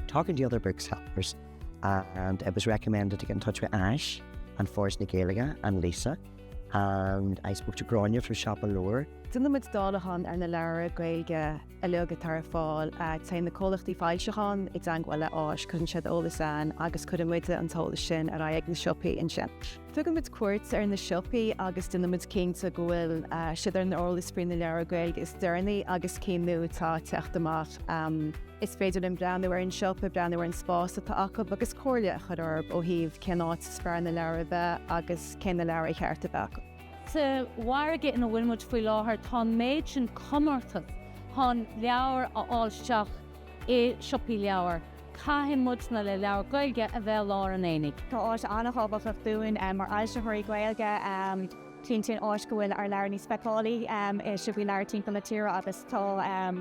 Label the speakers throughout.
Speaker 1: Talking to other booksellers and it was recommended to get in touch with ÁIS and Foras na Gaeilge and Lisa and I spoke to Gráinne from Siopa Leabhar. Déanaimid dáileachán ar na leabhra Gaeilge uilig atá ar fáil. Téann na comhlachtaí foilseachán i dteagmháil le Áis, cuireann siad eolas chugainn agus cuireann muid an t-eolas sin ar aghaidh ag na siopaí ansin. Tugaimid cuairt ar na siopaí agus déanaimid cinnte go bhfuil siad ar an eolas faoi na leabhair Gaeilge is deireanaí agus cinn nua atá ag teacht amach. Is féidir linn breathnú ar an siopa, breathnú ar an spás atá acu agus comhairle a chur orthu ó thaobh cén áit is fearr na leabhair a bheith agus cé na leabhair ar cheart a bheith acu. Sa mhargadh ina bhfuil muid faoi láthair, tá an méid sin comórtas chun leabhair a fháil isteach i siopaí leabhar. Caithfidh muid na leabhair Ghaeilge a bheith i lár an aonaigh. Tá ÁIS an-thábhachtach dúinn mar fhoilsitheoirí Gaeilge cinntíonn ÁIS go bhfuil ár leabhair níos feiceálaí i siopaí leabhar timpeall na tíre agus tá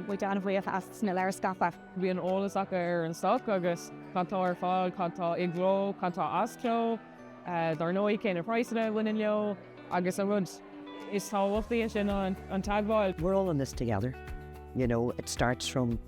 Speaker 1: muid an-bhuíoch as na leabhair a scaipeadh. Bíonn eolas acu ar an stoc agus cad tá ar fáil, cad tá i gcló, cad tá as cló, dar ndóigh cé na praghsanna a bhaineann leo agus an rud is tábhachtaí ansin ná an teagmháil. we're all in this together, you know, it starts from.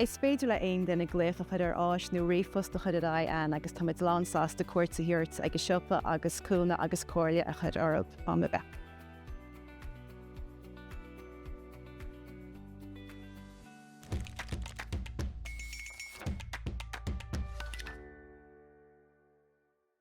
Speaker 1: Is féidir le haon duine glaoch a chur ar ÁIS nó ríomhphost a chur ar aghaidh againn agus táimid lán sásta cuairt a thabhairt ag a siopa agus cúnamh agus comhairle a chur oraibh am ar bith.